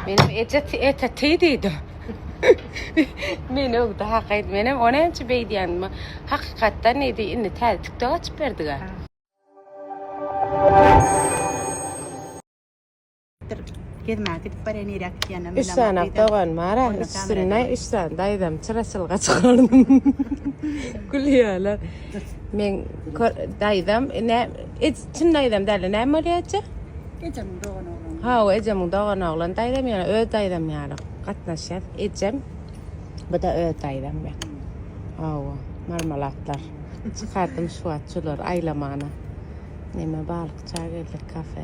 Menem eje ti ete ti diýdim. Men öwde hak aýt, menem o näçe beýdýänmi? Hakykatdan nedi indi täze TikTok açyp berdiga. Gezmä gidip barýan ýere gitýän. Üç sany dogan bar, üstünde üç sany daýzam çyraçylga çykardym. Gülýärler. Men daýzam, ne Çyn daýzam dälde näme bolýa eje. Ejemiň dogan oglany. Hawa ejemiň dogan oglany daýzam ýöne öz daýzam ýaly gatnaşýas ejem buda öz daýzam ýa. Hawa marmalatlar çykardym şu wagt şulary aýlamana. Neme balykça geldik kafe.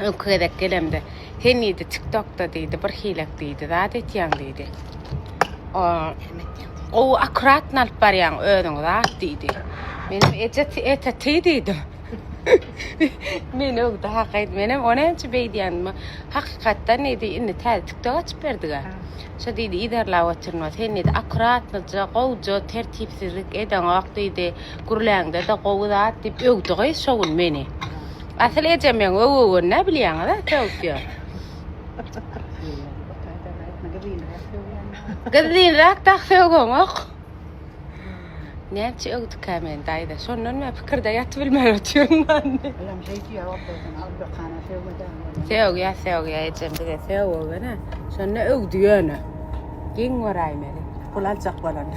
Öňki gezek gelemde sen diýdi TikTokda diýdi bir hilek diýdi zat etýäň diýdi. O O akkurat alyp barýaň özüň zat diýdi. Men eje ete ti diýdim. Men öwde hakyt menem ony ençe beýdýänmi? Hakykatda nedi indi täze TikTok açyp berdiga. Şo diýdi iderläp oturma sen diýdi akkuratlyja gowja tertipsizlik edeňok diýdi. Gürläňde de gowy zat diýip öwdügi şo gün meni. Asyl ejem men öwöwen nä bilýäňiz a söwüp ýör. Gyzynrak tak söwgeňok. Näçe öwdükä men daýza. Şondan men pikirde ýatyp bilmän otyryn many. Ejem şeýti ýawap bersen al bir kana söwmeden görme. Söwýä söwýä ejem bize söwüwene. Şonda öwdi ýöne. Giň göräýmeli. Pul aljak bolanda.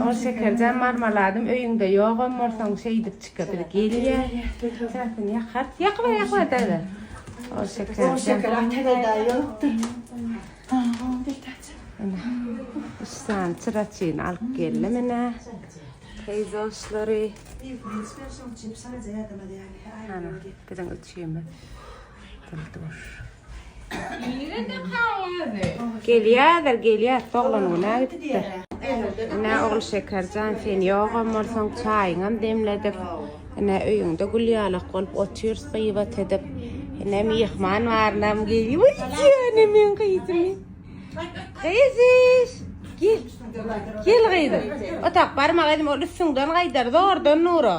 Ol şekerjam marmaladym öýüňde ýogam bolsaň şeýdip çyka bir gelýä. Sesini ýakart. Ýakyber ýakyber daýza. Ol şeker. Ol şeker atyda da ýokdur. Ene. Şan çyraçyny alyp geldi menä. Peýzoşlary. Ana, biziň üçimiz. Dur dur. Gelýärdir, gelýär. Soglan günä gitipdir. Ine, ogul Şekerjan, sen ýogam bolsaň, çaýyňam demledik. Ine, öýüňde gülýalak bolup otyrys gybat edip. Ine, myhman barynam gelýär. Wýy, ýöne meň gyzymy. Gyzyş, gel. Gel, gyzym. Otag barma, gyzym, ol üstüňden gaýdar, zordan nur o.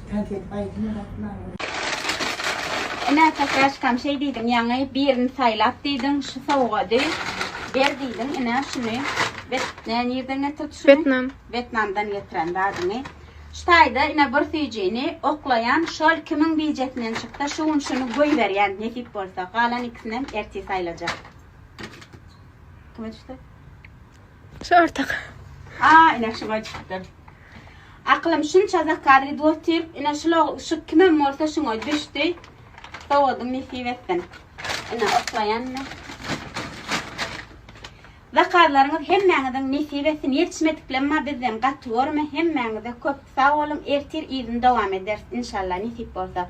Ine kakýaşkam şeý diýdiň ýaňy birini saýlap diýdiň şu sowgady ber diýdiň ine şuny bet ne nirden getirip şuny Wetnam. Wetnamdan getiren zadyňy şu taýda ine bir süýjini oklaýan şol kimiň bijesinden çyksa şu gün şuny goýberýän nesip bolsa galan ikisinem ertir saýlajak kime düşse. Şu artyk. A, ine şu goý çykypdyr. Akylym şunça zakazgi dost tirip, ine şula şu kimem bolsa şuňa düşdi. Sowadyň nesip etsin. Ine oklaýanmy? Zakazlaryňyz hemmäňiziň nesip etsin. Ýetişmediklem bar bizden gaty görme. Hemmäňize köp sag boluň. Ertir yzyny dowam ederis inşallah nesip bolsa.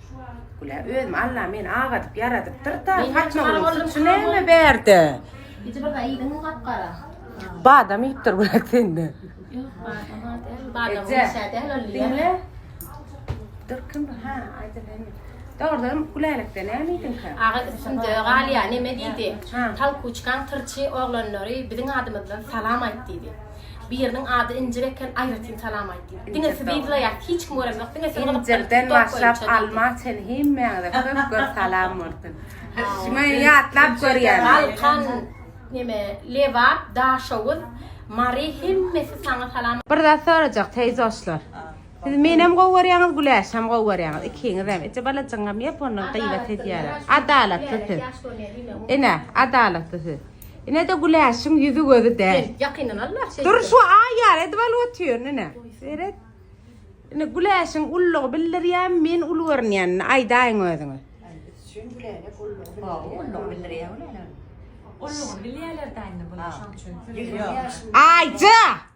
Gülä özüm Allah meni agadyp ýaradypdyr-da. Fatmagylyň sütçi näme bärde? Gije bir zat iýdiňmi gap-gara? Badam iýipdir Gülä sende. Ýok, badam däl. Badam güýçä däl ol. Diňle. Dur kim bu? Ha, aýdyl hemme. Dogrudan Gülälekde näme iýdiňkä? Aga üstünde galýa, näme diýdi? Talkuçkaň tyrçy oglanlary biziň adymyzdan salam aýt diýdi. Biriniň ady Injir eken aýratyn salam aýt diýdi. Diňe sizi yzlaýas hiç kim göremzok diňe sizi gyzykdyryp Injirden tiktok boýunça başlap diýdi. alma çen hemmäňize köp köp salam bolsun. Şuňa ýatlap görýän. Balkan neme Lebap Daşoguz Mary hemmesi saňa salam Bir zat sorajak teyzoşlar. Siz menem gowy görýäňiz Güläşem gowy görýäňiz ikiňizem eje balajyňam ýok ondan gyýbat edýäler adalatly siz ene adalatly siz inede Güläşiň ýüzi gözi däl ýakyndan alma şeýtse dur şu aýýar edip alyp otyr ene seret ene Güläşiň ullugy bildirýämi men uly görünýänini aýdaýyň özüňiz üçin Güläne ullugy bildirýär ullugy bildirýär Güläne ullugyny bilýärler daýyny bular şoň üçin Aýja!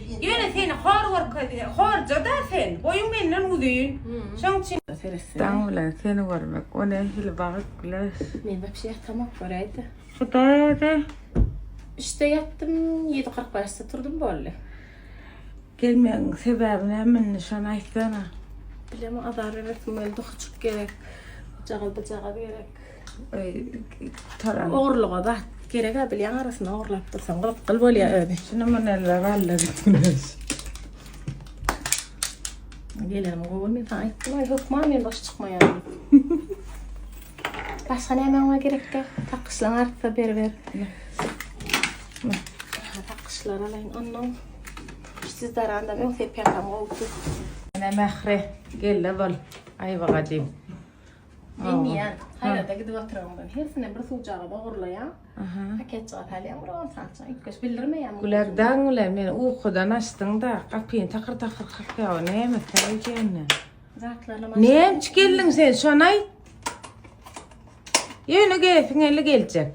Ýöne seni hor görkezýän. Horja-da sen. Boýuň menden uzyn. Şoň üçin. Daň bilen seni görmek. O nähili bagt Güläş. Men wapşe ýatamok göräýse. Hudaý özi. Üçde ýatdym, ýedi kyrk bäşde turdum boldy. Gelmegiň sebäbi näme indi şony aýtsana. Bilemok azar beresim geldi huçuk gerek. Jagaz bijagaz gerek. Taran. Ogurluğa bak. Gerek ha bilýän arasynda ogurlap dursaň. Gyzykgyl bolýa özi. Şuna münelle galle gitmez. Gelen gowy men sana aýtdym aý hökma men boş çykmaýan. Başga näme oňa gerekde? Takyşlaň artsa berber. Takyşlar alaýyn. Ondan siz daranda öň sepýan gowy. Ana mähre gelle bol. Aýwaga diýip. Diňleýän, haýrada gidip oturandan. Hersine bir suwjaga dogurlaýan. Aha. Paketçiga salýan bir on sança. Üýtgeş bildirmeýän. Güler daň bilen men ukudan açdyň da, gapyny takyr takyr kakýaw. Näme täýjäne? Zatlaryna başla. Näme geldiň sen şonaý? Ýöne gelsin eli geljek.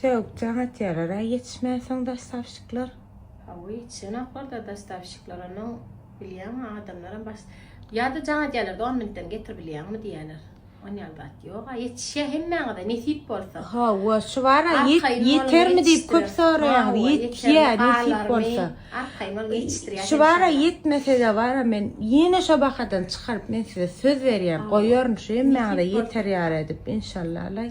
Sögüp jaň etýäler-ä ýetişmänsoň dostavşikler. Hawy, çynap barda dostavşikler onuň bilýäňmi adamlaram baş ýa-da jaň edýäler-de on minutdan getir bilýäňmi diýýäler. On ýaly zat ýog-a ýetişýä hemmäňize nesip bolsa. Hawa, şu bar-a ýetermi diýip köp soraýaňyz, ýetýä nesip bolsa. Arkaýyn boluň ýetişdirýä. Şu bar-a ýetmese-de bar-a men ýene şo bahadan çykaryp men size söz berýän goýaryn şu hemmäňize ýeter ýar edip inşallalaý.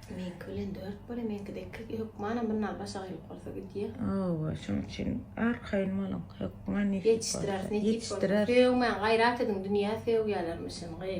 Meňki bilen dört bolýa, meňki de iki. Hökmanam bir nal başa gaýlyp galsa gidýä. Hawa, şonuň üçin arkaýyn boluň. Hökman nesip bolsa. Ýetişdiräris, nesip bolsa. Sögmäň, gaýrat ediň, dünýä sögýälermişin, gyz.